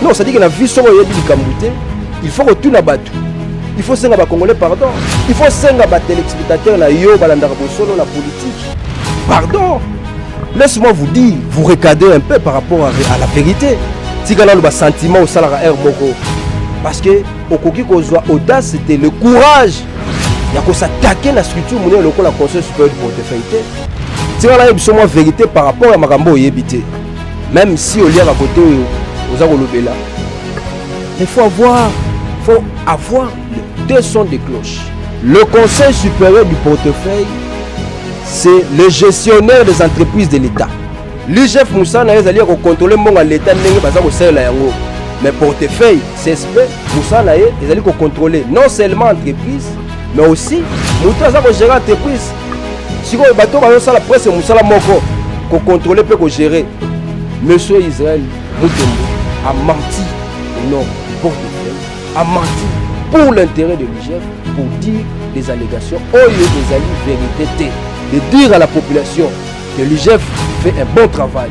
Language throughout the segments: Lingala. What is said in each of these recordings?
Non, c'est-à-dire que na vie soko yebi likambo te, il faut kotuna bato. Il faut senga ba congolais pardon. Il faut senga ba téléspectateurs na yo balandaka bosolo na politique. Pardon. Laisse-moi vous dire, vous recadrer un peu par rapport à, à la vérité. Tika nanu ba sentiment osalaka heure moko. Parce que okoki kozwa audace, c'était le courage ya kosatake na structure monene lokola conseil supérieur du portefeuille te. Tika nayebi biso mwa vérité par rapport ya makambo oyebi te. Même si oliaka kote oyo oza kolobela, il faut avoir, faut avoir le deux sons de cloche. Le Conseil supérieur du portefeuille, c'est le gestionnaire des entreprises de l'État. L'IGF Moussa na ezali ya kokontrole mbongo ya l'État ndenge baza kosalela yango. Mais portefeuille CSP Moussa na ye ezali kokontrole non seulement entreprise mais aussi moto aza kogere entreprise sikoyo bato bazosala prese mosala moko kokontrole mpe kogere monsieur israel mutombo amanti non pour amanti pour l'intérêt de l'igf pour dire des allégations oyo ezali vérité te de dire à la population que l'igf fait un bon travail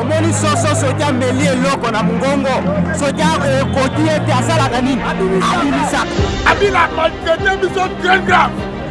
omoni soso soki ameli eloko na mongongo soki ekoti ete asalaka nini abimisaka abila maltraite biso très grave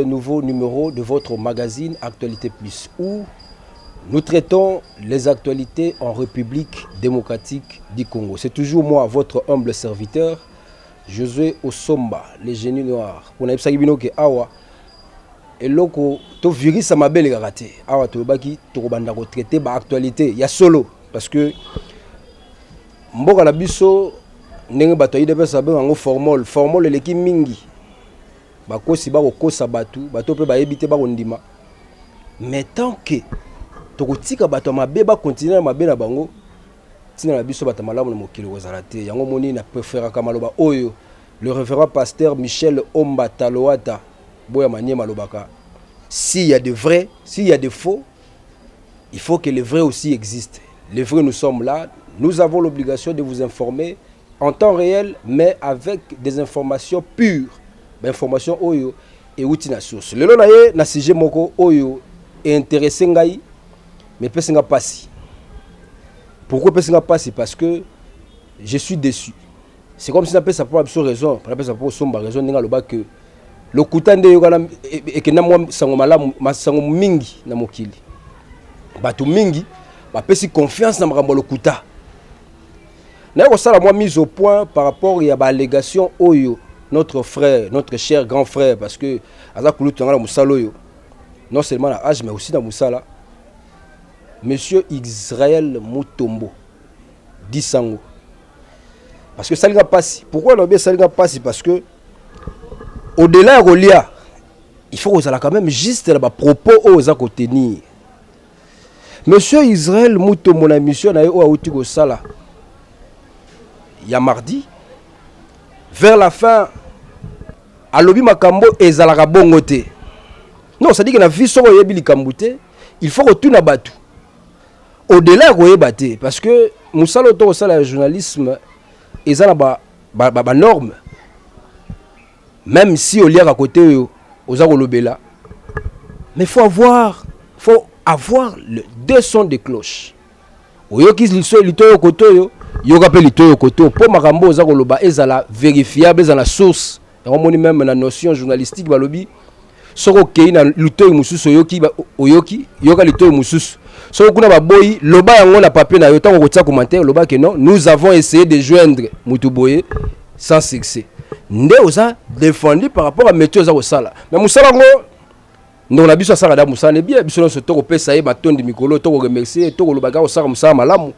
Le nouveau numéro de votre magazine Actualité Plus où nous traitons les actualités en République démocratique du Congo. C'est toujours moi, votre humble serviteur, Josué Osomba, le génie noir. Pour naïpsa bino ke awa eloko to virus mabe le karaté. Awa to baki to banda ko traiter ba actualité ya solo parce que mboka na biso ndenge bato ya idps babenga yango formol formol eleki mingi Bakosi bako kosa batu, bato pe bayebi te bako ndima. Mais tant que toko tika bato ya mabe ba continuer na mabe na bango, tina na biso bato malamu na mokili ekozala te. Yango omoni na preferaka maloba oyo le reverend pasteur Michel Omba Taloata boya maniema alobaka s'il y a de vrai, s'il y a de faux, il faut que le vrai aussi existe. Le vrai nous sommes là, nous avons l'obligation de vous informer en temps reel mais avec des informations pures ba informations oyo ewuti na source lelo na ye na sujet moko oyo intéressé ngai mais epesi nga pasi pourquoi epesi nga pasi parce que je suis déçu c'est comme si napesa mpo na biso raison mpo napesa mpo osomba raison ndenge aloba que lokuta nde eyokana e, e, ekenda mwa sango malamu masango mingi na mokili bato mingi bapesi confiance na makambo ya lokuta naye kosala mwa mise au point par rapport ya baallegation oyo notre frère notre cher grand frère parce que aza kulutu yanga na mosala oyo non seulement na age mais aussi na mosala monsieur israel mutombo disango parce que esalinga mpasi pourquoi nalobi esalinga mpasi parce que au delà ya kolia il faut kozala quand même juste na bapropos oyo oza kotenir Monsieur Israël Mutombo na mission na ye oyo awuti kosala ya mardi vers la fin alobi makambo ezalaka bongo te non c'est-à-dire que na vie soko oyebi likambo te il faut kotuna bato au-delà ya koyeba te parce que mosala oyo tokosala ya journalisme eza na banorme ba, ba, ba Meme si oliaka kote oyo oza kolobela, mais faut avoir faut avoir le deux sons de cloche. Oyoki liso litoyo kote oyo, yoka pe litoyo kote oyo po makambo oza koloba ezala verifiable, ezala na source. Yango moni meme na notion journalistique balobi soki okei na litoi mosusu oyoki oyoki yoka litoi mosusu soki kuna baboyi loba yango na papier na yo ntango okotia commentaire loba ke non nous avons essayé de joindre motu boye sans succès nde oza défendu par rapport à métier oza kosala mais mosala yango ndeko na biso asalaka da mosala ne bien biso nyonso tokopesa ye matondi mikolo tokoremercie tokoloba kaka kosala mosala malamu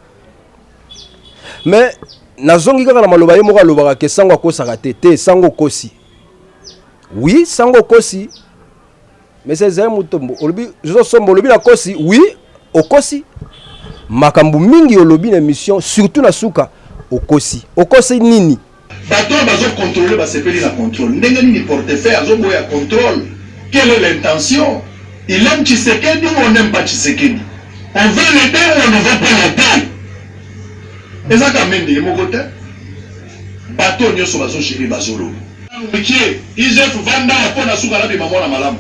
mais nazongi kaka na maloba ye moko alobaka ke sango akosaka te te sango okosi Oui, sango okosi. Mais c'est un mutombo. Olobi zo sombo olobi na kosi. Oui, okosi. Makambo mingi olobi na mission surtout na suka okosi. Okosi nini? Bato oyo bazo controler basepeli na controle ndenge nini? Portefeuille azoboya controle, quelle est l'intention? Il aime Tshisekedi ou on n'aime pas Tshisekedi? On veut l'aider ou on ne veut pas l'aider? Eza Kamende ye moko te. Bato oyo nioso bazo gerer ba zolo. Nanu mikie IGF vanda po na suka nabima mwana malamu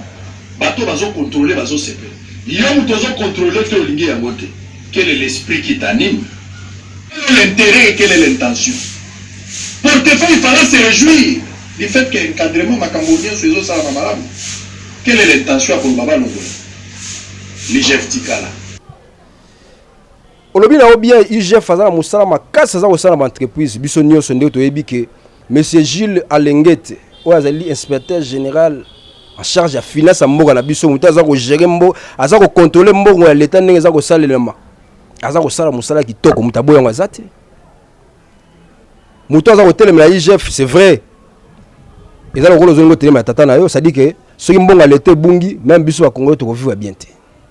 bato bazo controler bazo sepela yo mutu ozo controler te olingi yango te quel est l'esprit qui t'anime quel est l'interet et quel est l'intention portefeuille il fallait se rejouir du fait que encadrement makambo nioso ezo salama malamu quel est l'intention ya koloba balongola l'IGF tikala olobi na yo bien igf aza na mosala makasi aza kosala na baentreprise biso nyonso nde toyebi ke monsieur gilles alengete oyo azali inspecteur général en charge ya finance ya mboka na biso moto aza kogere mbo aza kokontrole mbongo ya leta ndenge eza kosalelama aza kosala mosala kitoko moto aboyango aza te moto aza kotelemela igf c'est vrai eza lokola ozolinga otelemela tata na yo sadike soki mbongo ya leta ebungi meme biso bakongole tokovivre bien te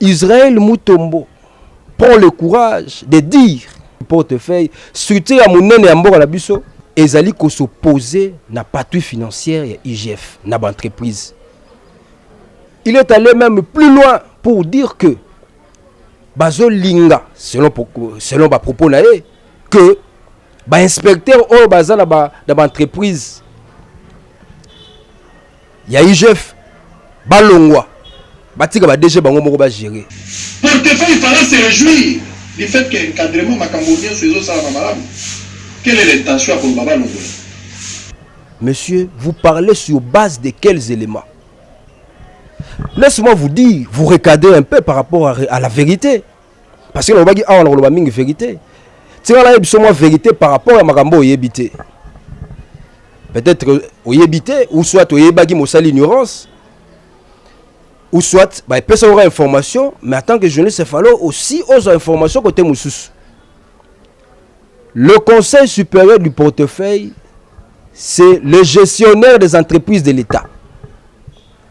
Israël Mutombo prend le courage de dire portefeuille structure ya monene ya mboka na biso ezali ko s'opposer na patrouille financière ya IGF na ba entreprise. Il est allé même plus loin pour dire que bazo linga selon selon ba propos na ye que ba inspecteur oyo baza na ba na ba entreprise Ya IGF balongwa batika ba DG bango moko ba gerer. Portefeuille fallait se rejouir du fait que encadrement makambo nionso ezo salama malamu. Quelle est l'intention ya koloba balongola? Monsieur, vous parlez sur base de quels éléments Laisse-moi vous dire, vous recadrez un peu par rapport à, à la vérité. parce que nalobaki awa nakoloba mingi verité tika nayebi biso mwa verité par rapport ya makambo oyebi te peut-être oyebi te ou soit oyebaki mosali ignorance ou soit bah, epesa oka information mais en tant que journaliste efalo aussi ozwa information côté mosusu le conseil supérieur du portefeuille c'est le gestionnaire des entreprises de l'état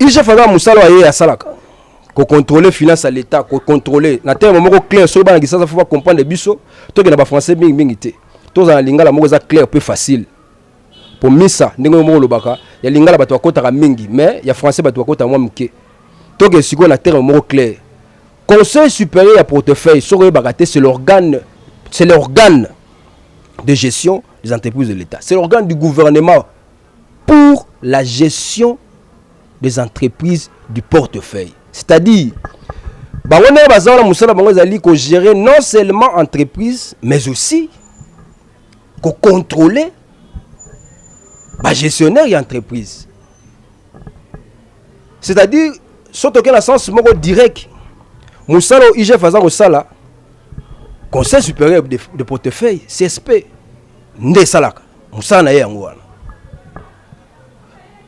IGF aza musala wa ye asalaka ko contrôler finance ya l'etat ko contrôler na terme moko clair soki bana kisasa faut ba comprendre biso toke na ba français mingi mingi te tozala na lingala moko eza clair pe facile po misa ndenge moko olobaka ya lingala bato bakotaka mingi mais ya français bato bakotaka mwa moke toke sikoyo na terme moko clair conseil supérieur ya portefeuille soki oyebaka te c'est l'organe c'est l'organe de gestion des entreprises de l'etat c'est l'organe du gouvernement pour la gestion des entreprises du portefeuille c'est-à-dire bango ndenge baza wana mosala bango ezali kogere non seulement entreprise mais aussi kocontrôle bagestionnaire ya entreprise c'est-à-dire so toke na sens moko direct mosala oyo igf aza kosala conseil supérieur de, de portefeuille csp nde esalaka mosala na ye yango wana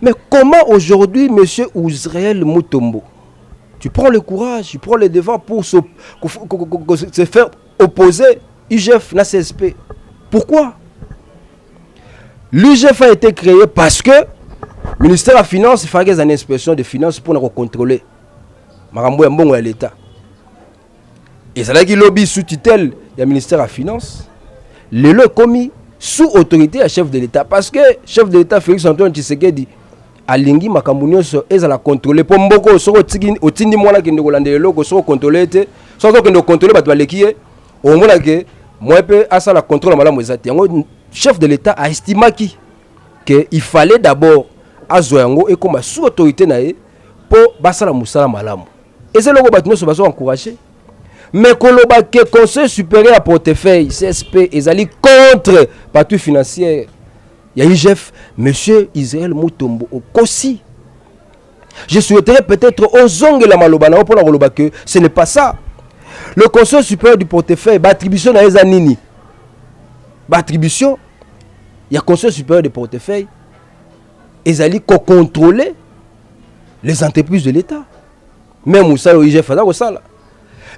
mais comment aujourd'hui monsieur Ouzreel Mutombo tu prends le courage tu prends le devant pour se, se faire opposer UGF na CSP pourquoi l'UGF a été créé parce que le ministère de la finance fallait une inspection de finances pour contrôler makambo ya mbongo ya l'État ezalaki lobi sous tutelle ya ministère ya finance lelo ekomi sous autorité ya chef de l'état parce que chef de l'état félix antoine tshisekedi alingi makambo nyonso ezala contrôle mpo mboko soki otindi mwana akende kolandela eloko soki okontrole te soki azokende kokontrole bato baleki ye omona ke mwa mpe asala contrôle malamu eza te yango chef de l'état aestimaki ke il fallait d'abord azwa yango ekoma sous autorité na ye mpo basala mosala malamu eza eloko bato nyonso bazo encourage mais koloba ke conseil supérieur ya portefeuille csp ezali contre patui financière ya igf monsieur israel mutombo okosi je souhaiterais peut-être ozongela maloba na yo mpo na koloba ke ce n'est pas ça le conseil supérieur du portefeuille baattribution na ye eza nini baattribution ya conseil supérieur de portefeuille ezali kocontrole les entreprises de l'État. Même Moussa au IGF, ça ça.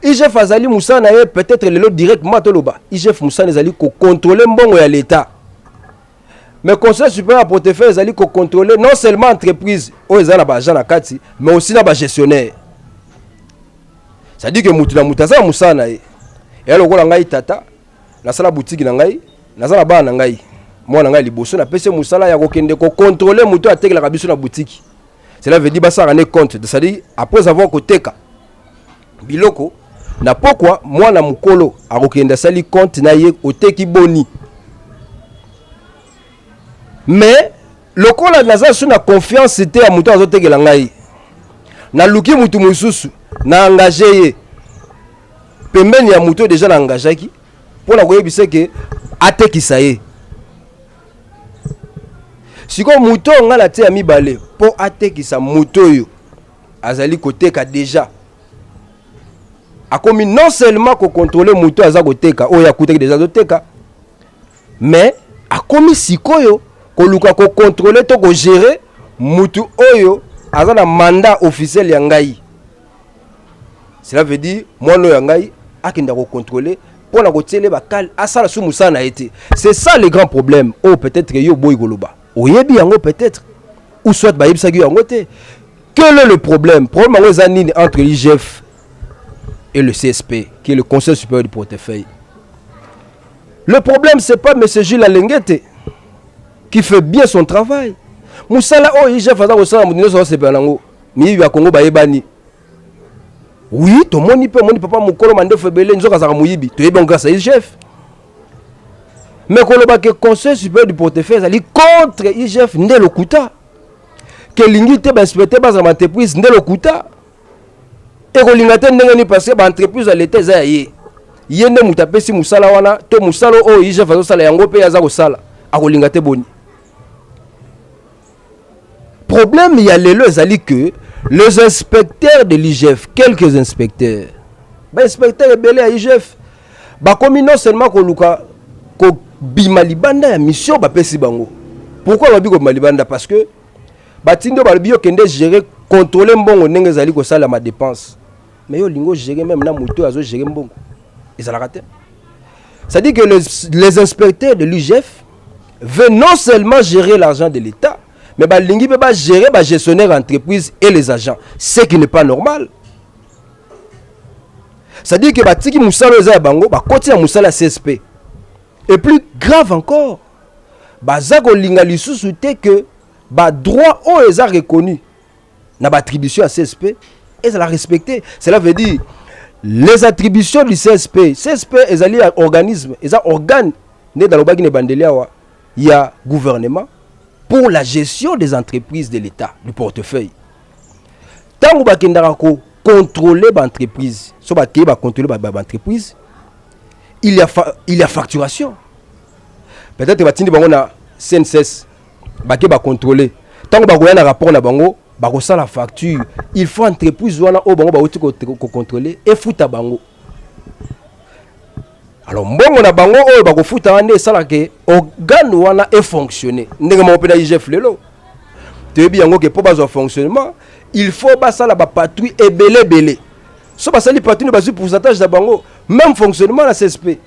IGF azali Moussa na peut-être lelo directement toloba. IGF Moussa ezali ko contrôler mbongo ya l'État. Mais Conseil supérieur à portefeuille ezali ko contrôler non seulement entreprise oyo ezali na ba agents na kati, mais aussi na ba gestionnaires. C'est-à-dire que mutu na mutu aza Moussa na ye. Et alors ko ngai tata nasala butiki na ngai naza na bana na ngai mwana ngai liboso napesi ye mosala ya kokende kokontrole moto oyo atekelaka biso na butiki cela veut dire basalaka ne compte c'est-à-dire après avoir koteka biloko na pokwa mwana mokolo akokende asali compte na ye oteki boni mais lokola naza su na confiance te ya moto azotekela ngai naluki motu mosusu na engage ye pembeni ya moto deja na engageaki mpo na koyebisa ke atekisa ye sikoyo moto oyo ngai natia mibale mpo atekisa moto oyo azali koteka deja akomi non seulement kokontrole moto aza koteka oyo akutaki deja azoteka Mais akomi sikoyo koluka ko controler to ko gerer mutu oyo aza na mandat officiel ya ngai. Cela veut dire mwana oyo ya ngai akenda ko controler mpo na kotiela ye bakale asala su mosala na ye te c'est ça le grand problème oyo oh, peut-être yo oboyi koloba oyebi yango peut-être ou soit bayebisaki yo yango te quel est le problème problème yango eza nini entre l'igf et le csp qui est le conseil supérieur du portefeuille Le problème c'est pas monsieur Jules Alengete qui fait bien son travail. Musala oyo IGF aza kosala moto nyonso asepela nango. Miyibi ya Kongo bayebani. Oui, tomoni mpe omoni papa mokolo mandefu ebele nzoka azalaka moyibi. Toyebi yango grâce à IGF. Mais koloba ke conseil supérieur du portefeuille ezali contre IGF nde lokuta. Kelingi te bainspecteur bazala entreprise nde lokuta. ekolinga te ndenge nini parce que ba entreprise ya leta eza ya ye ye nde moto apesi mosala wana to mosala oyo igf azosala yango mpe aza kosala akolinga te boni problème ya lelo ezali que les inspecteurs de l'igf quelques inspecteurs bainspecteur ebele ya igf bakomi non seulement koluka kobima libanda ya mission bapesi bango pourquoi babi kobima libanda parce que batindi yo balobi yo kende gérer contrôler mbongo ndenge ezali kosalama dépense mais yo olingi ogere meme na moto oyo azogere mbongo ezalaka te c'est-à-dire que les, les inspecteurs de l'ugf veut non seulement gérer l'argent de l'état mais balingi mpe bagere bagestionnaire entreprise et les agents ce qui n'est pas normal c'est-à-dire que batiki mosala oyo eza ya bango bakoti na mosala ya csp et plus grave encore baza kolinga lisusu te que ba droit oyo eza reconnu na ba attribution ya csp ezala respecte cela veut dire les attributions du csp csp ezali ya organisme eza organe nde nalobaki na ebandeli awa ya gouvernement pour la gestion des entreprises de l'état du portefeuille ntango bakendaka ko contrôler ba entreprise so bakei ba contrôler ba entreprise il y a, fa, il y a facturation peut-être batindi bango na CNCS bake ba contrôler ntango bakoya na rapport na bango bakosala facture il faut entreprise wana oyo bango bauti kocontrôle efuta bango alors mbongo na bango oyo bakofuta wana nde esalaka organe wana efonctionne ndenge moko mpe na igf lelo toyebi yango ke mpo bazwa fonctionnement il faut basala bapatrouille ebele ebele so basali patrouille bazwi pourcentage na bango même fonctionnement na csp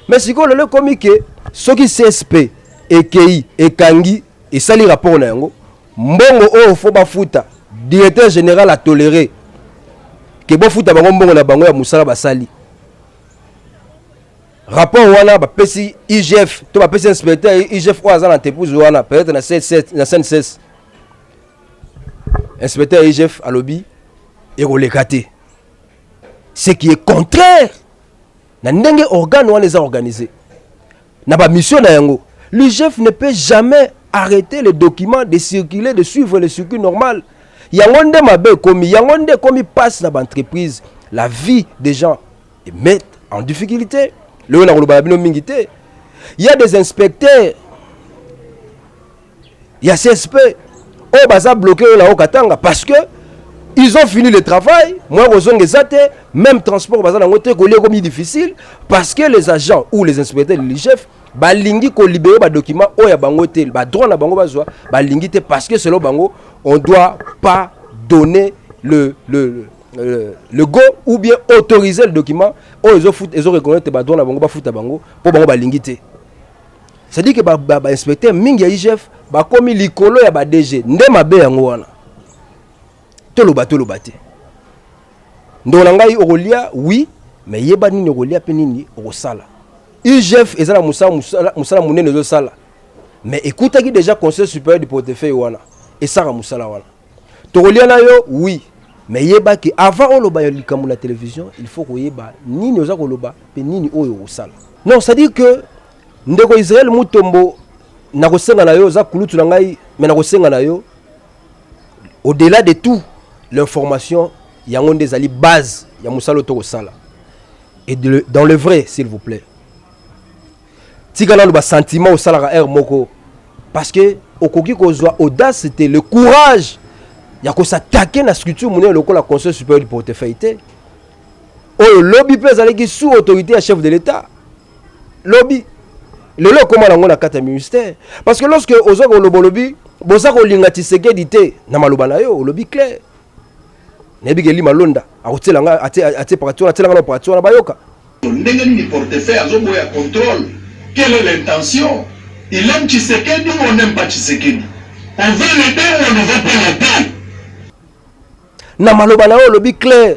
mais sikoyo lelo ekomi ke soki csp ekei ekangi esali rapport na yango mbongo oyo fo bafuta directeur général atolere ke bofuta bango mbongo na bango ya mosala basali rapport wana bapesi igf to bapesi inspecteur ya igf oyo aza na entreprise wana peut-être na sncs inspecteur ya igf alobi ekoleka te ce qui est contraire na ndenge organe wana eza organise na bamission na yango l'igf ne peut jamais arrêter les documents de circuler de suivre le circuit normal yango nde mabe ekomi yango nde ekomi mpasi na baentreprise la vie des gens est mette en difficulté lelo na koloba na bino mingi te ya des inspecteurs ya csp oyo baza bloke oyo lao katanga parce que ils ont fini le travail moya kozonga eza te même transport baza nango te kolia ekomi difficile parce que les agents ou les inspecteurs de ligef balingi kolibere badocument oyo ya bango te badroit na bango bazwa balingi te parce que selon bango on doit pas donner le, le, le Euh, le go ou bien autoriser le document oyo ezoreconnaître badroit na bango bafuta bango mpo bango balingi te c'est-à-dire que ba, ba, ba inspecteur mingi ya IGF bakomi likolo ya ba DG nde mabe yango wana toloba toloba te ndongo na ngai okolia oui mais yeba nini okolia mpe nini okosala IGF eza na mosala mosala monene ezosala mais ekutaki déjà conseil supérieur du portefeuille wana esaka mosala wana Tokolia na yo oui mais yeba ke avant oloba ya likambo na television il faut koyeba nini oza koloba mpe nini oyo okosala non c'est-à-dire que ndeko Israel Mutombo nakosenga na yo oza kulutu na ngai mais nakosenga na yo au-delà de tout l'information yango nde ezali base ya mosala oyo tokosala et de, dans le vrai s'il vous plaît tika nanu basentiment osalaka heure moko parce que okoki kozwa audace te le courage ya kosatake na structure monene lokola conseil supérieur du portefeuille te oyo lobi mpe ezalaki sous autorité ya chef de l'état lobi lelo ekóma nango na kati ya ministère parce que lorsque oza koloba olobi boza kolinga tshisekedi te na maloba na yo olobi claire nayebi ke lima londa akotiela nga atie parati wana atiela nga na parati wana bayoka ndenge nini portefeuille azoboya contrôle quelle est l'intention il aime Tshisekedi ou on n'aime pas Tshisekedi on veut l'aider ou on ne veut pas l'aider na maloba na yo olobi clair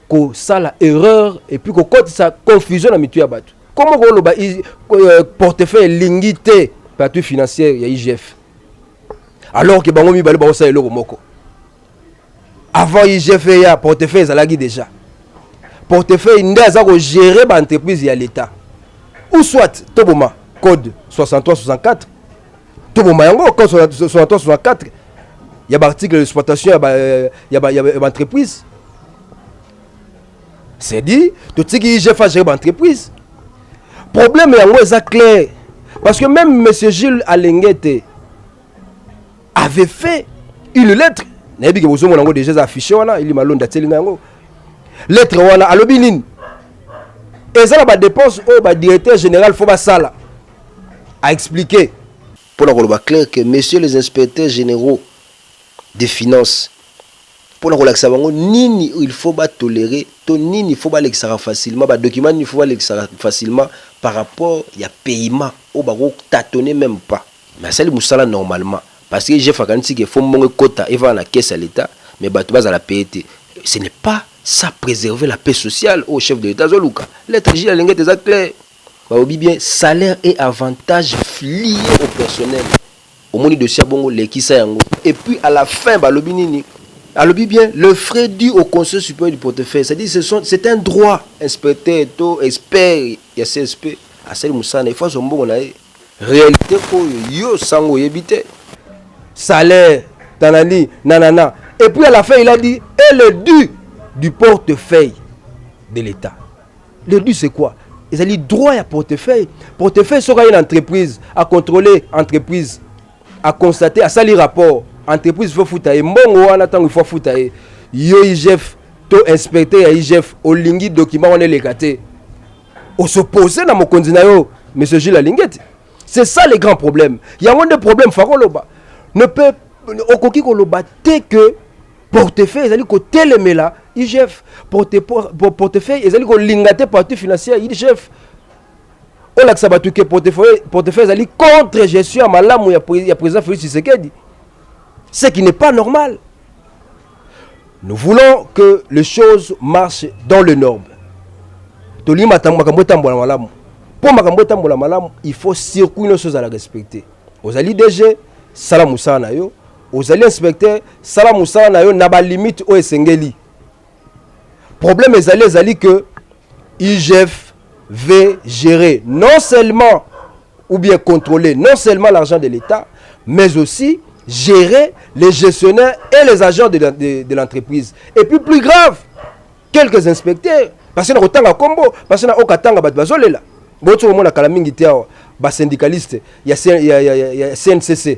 kosala erreur epuis kokotisa confusion na mitu ya bato komo koloba euh, portefeuille elingi te patui financière ya igf alors ke bango mibale bakosala eloko moko avant igf eya portefeuille ezalaki déjà portefeuille nde aza kogere baentreprise ya l'état ou soit toboma code 63 64 tobomba yango quand 63 64 ya baarticle d'exploitation ya baentreprise c'est dit totiki igf agere baentreprise problème yango eza clair parce que même monsieur gilles alengete avait fait une lettre nayebi ke bozomona yango déjà eza affiché wana ili malonde atieli nga yango lettre wana alobi nini eza na badepense oyo badirecteur général fo basala a expliquer mpo na koloba clair que messieurs les inspecteurs généraux des finances mpo na kolakisa bango nini il faut ba tolérer to nini il faut balekisaka facilement ba documents nini il faut balekisaka facilement par rapport ya paiement oyo bako tâtonner même pas mais asali mosala normalement parce que Jeff akanisi que faut mbongo ekota evana na caisse ya l'etat mais bato bazala paye te ce n'est pas ça préserver la paix sociale oyo chef de l'etat azoluka lettre J ya Lengete eza clair. Balobi bien salaire et avantage lies au personnel omoni dossier ya bongo lekisa yango et puis à la fin balobi nini alobi bien le frais du au conseil superieur du portefeuille c'est à dire c'est un droit inspecteur to expert ya CSP asali musala na ye il faut azua mbongo na ye realite oyo yo sango oyebi te. salaire tanani nanana et puis à la fin il a dit et le du du portefeuille de l'etat. Le but c'est quoi ezali droit ya portefeuille portefeuille soki aye na entreprise acontrole entreprise aconstate asali rapport entreprise faut futa ye mbongo wana ntango ifo afuta ye yo igf to inspecteur ya igf olingi document wana eleka te osopose na mokonzi na yo monsieur jules alingeti c'est ça le grand problème yango nde problème fakoloba ne peut okoki koloba te que portefeuille ezali kotelemela igf portefeuille ezali kolinga te parti financier ya igf olakisa bato ke portefeuille ezali contre gestion ya malamu ya président félix tshisekedi ce qui n'est pas normal nous voulons que les choses marchent dans le norme tolingi makambo etambola malamu mpo makambo etambola malamu il faut circuit nyonso ezala respecte ozali dg sala mosala na yo ozali inspecteur sala mosala na yo na balimite oyo esengeli problème ezali ezali que igf ve gérer non seulement ou bien contrôler non seulement l'argent de l'état mais aussi gérer les gestionnaires et les agents de, de, de l'entreprise et puis plus grave quelques inspecteurs parce que nakotanga kombo parce que na okatanga bato bazolela boti komona kala mingi te awa basyndicaliste ya, ya, ya, ya, ya cncc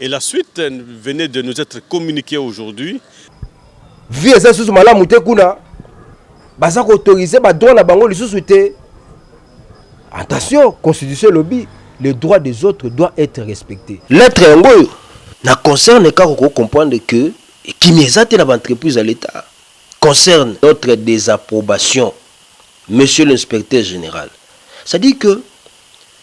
Et la suite venait de nous être communiquée aujourd'hui. Vie eza susu malamu te kuna. Baza ko autoriser ba droit na bango lisusu te. Attention, constitution lobby, le droit des autres doit être respecté. Lettre yango na concerne kaka ko comprendre que ekimi eza te na ba entreprise ya l'État concerne notre désapprobation, monsieur l'inspecteur général. C'est-à-dire que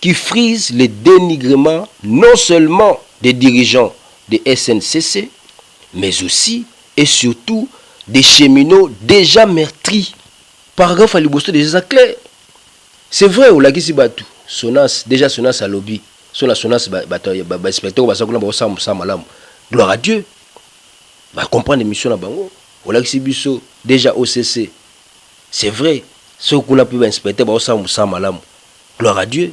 qui frise le denigrement non seulement des dirigeants de SNCC mais aussi et surtout des cheminots dejà meurtris. Paragraphe ya liboso dejà eza clair. C'est vrai olakisi batu Sonas, dejà Sonas alobi soki na Sonas ba batu ba inspecteurs oyo baza kuna bazo sala mosala malamu, gloire à Dieu. Ba comprendre mission na bango. Olakisi biso dejà OCC. C'est vrai soki kuna pe ba inspecteurs bazo sala mosala malamu. Gloire à Dieu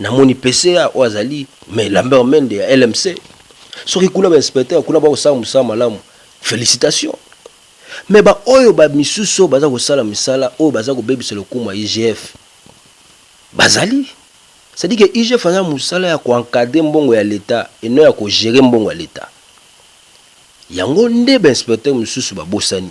na moni PCA oyo azali mais Lambert Mende ya LMC soki kuna ba inspecteur kuna ba kosala mosala malamu felicitations mais ba oyo ba misusu oyo baza kosala misala oyo baza kobebisa lokumu ya IGF bazali c'est dire que IGF aza mosala ya ko encadrer mbongo ya l'etat et non ya ko gérer mbongo ya l'etat yango nde ba inspecteur misusu babosani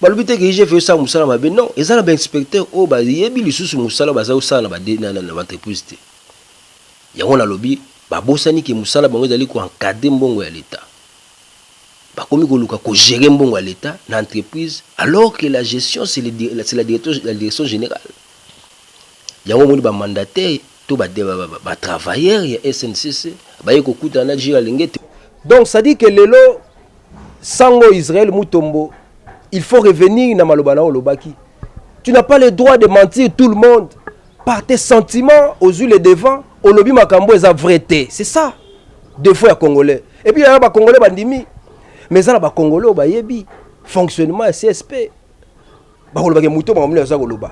balobi te ke igf esala mosala mabe non eza na bainspecteur oyo bayebi lisusu mosala baza kosala na baentreprise te yango nalobi babosani ke mosala bango ezali koencadre mbongo ya leta bakomi koluka kogere mbongo ya leta na entreprise alors ke la gestion c'est la direction générale yango omoni bamandataire To ba ba travailleurs ya SNCC baye kokutana na Gilles Alengete. Donc ça dit que lelo sango Israël Mutombo il faut revenir na maloba na olobaki. Tu n'as pas le droit de mentir tout le monde par tes sentiments aux yeux les devants olobi makambo eza vrai te. C'est ça. Défaut ya congolais. Et puis ya ba congolais bandimi mais za na ba congolais bayebi fonctionnement ya CSP. bakoloba ke moto makambo nini aza koloba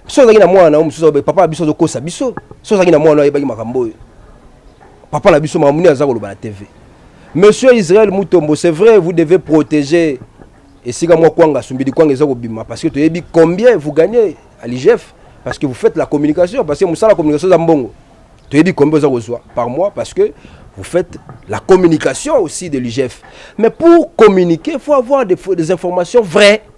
so ozalaki na mwana na yo mosusu aloba papa na biso azokosa biso so ozalaki na mwana ayebaki makambo oyo papa na biso makambo nini aza koloba na tv monsieur israel mutombo c'est vrai vous devez protéger esika mwa kwanga asumbidi kwanga eza kobima parce que toyebi combien vous gagnez à l'igf parce que vous faites la communication parce que mosala communication eza mbongo toyebi combien oza kozwa par mois parce que vous faites la communication aussi de l'igf mais pour communiquer il faut avoir des, des informations vraies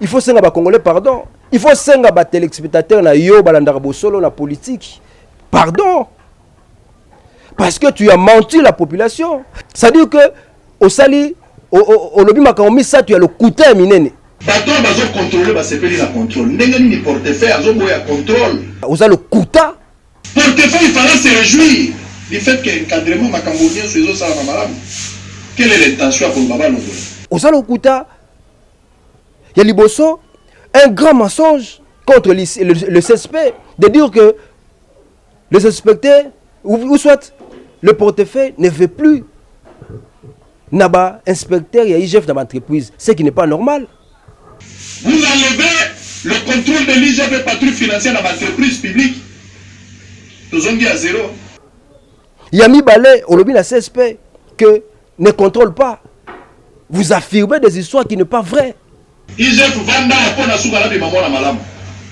il faut senga ba congolais pardon il faut senga ba téléspectateurs na yo balandaka bosolo na politique pardon parce que tu as menti la population c'est à dire que osali olobi makambo misato ya lokuta ya minene bato oyo bazokontrole basepeli na contrôle ndenge nini portefeuille azoboya contrôle oza lokuta Portefeuille fallait se rejouir du fait que encadrement makambo nionso ezo salama malamu. Quelle est l'intention ya koloba ba longola? Oza lokuta ya liboso un grand mensonge contre le, le, le CSP de dire que les inspecteurs ou, ou soit le portefeuille ne veut plus naba inspecteur ya IGF naba entreprise ce qui n'est pas normal Vous enlevez le controle de l'IGP patrouille financière na ba entreprises publiques. Tozongi à zero. Ya mibale, olobi na CSP que ne contrôle pas. Vous affirmez des histoires qui ne pas vraies. IGF vanda mpo na suka na bima mwana malamu.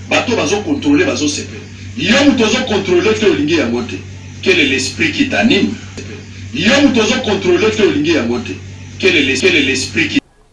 Bato bazo contrôler, bazo sepe. Yo moto ozo contrôler te olingi yango te. Quel est l'esprit qui t'anime? Yo moto ozo contrôler te olingi yango te. Quel est l'esprit qui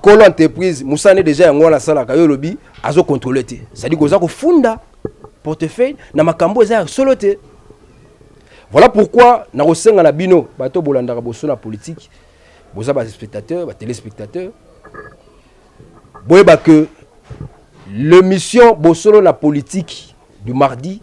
kolo entreprise mosala nde deja yango wana asalaka yo olobi azo controle te cestadire koza kofunda portefeuille na makambo eza ya solo te voilà pourquoi nakosenga na bino bato bolandaka boso na politike boza baspectateur batelespectateur boyeba que l'émission bosolo na politique du mardi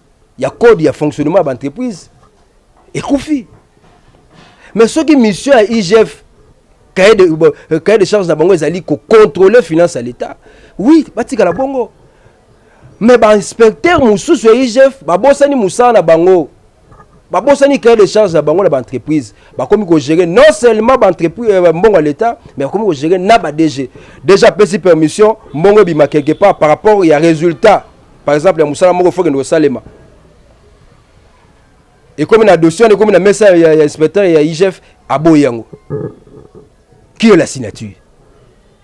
ya code ya fonctionnement ya baentreprise ekufi mais soki mission ya igf cahier de, euh, cahier de charge na bango ezali kocontrôle finance ya l'état oui batikala bongo mais bainspecteur mosusu ya igf babosani mosala na bango babosani cahier de charge na bango na baentreprise bakomi kogere non seulement euh, mbongo ya l'état mais bakomi kogere na badg déjà apesi permission mbongo ebima quelque part par rapport ya résultat par exemple ya mosala moko fokende kosalema ekomi na dossier wana ekomi na mesa ya, ya inspecteur ya igf aboyi yango qui est la signature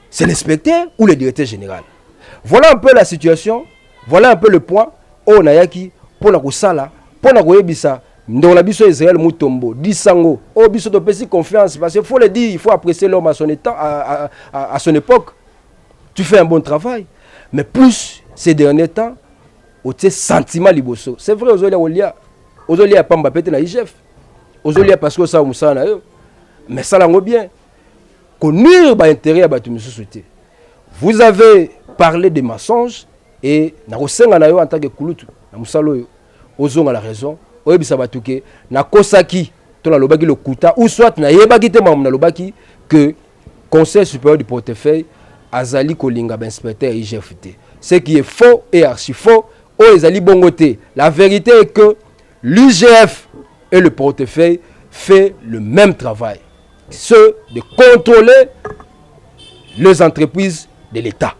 c'est l'inspecteur ou le directeur général voilà un peu la situation voilà un peu le point oyo nayaki mpo na kosala mpo na koyebisa ndeko na biso israel mutombo disango oyo oh, biso topesi confiance parce que faut le dire il faut apprécier l'homme à son état à, à, à, à son époque tu fais un bon travail mais plus ces derniers temps otie sentiment liboso c'est vrai ozolia kolia ozolia ya pamba mpe te na igf ozolia parce que osala mosala na yo mais sala yango bien konuire baintérêt ya bato mosusu te vous avez parlé de mensonge e nakosenga na yo en tant que kulutu na mosala oyo ozonga na raison oyebisa bato ke nakosaki to nalobaki lokuta ou soit nayebaki te makambo nalobaki que conseil supérieur du portefeuille azali kolinga bainspecteur ya igf te ce qui est faux et archi faux oyo ezali bongo te la vérité est que l'igf et le portefeuille fait le même travail ce de contrôler les entreprises de l'état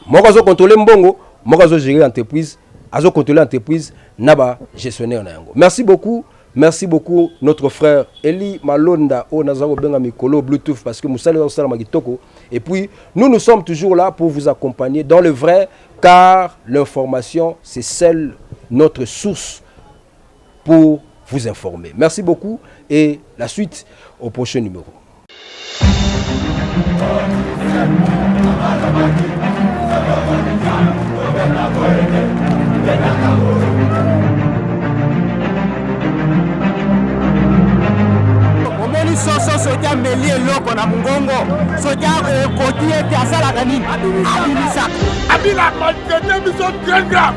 moko azo contrôler mbongo moko azo gérer entreprise azo contrôler entreprise na ba gestionnaire na yango merci beaucoup merci beaucoup notre frère Eli Malonda oyo naza kobenga mikolo Bluetooth parce que mosala osalama kitoko et puis nous nous sommes toujours là pour vous accompagner dans le vrai car l'information c'est seule notre source pour vous informer. Merci beaucoup et la suite au prochain numéro. omoni soso soki ameli eloko na mongongo soki akoki ete asalaka nini abimisaka abila maltraite biso très grave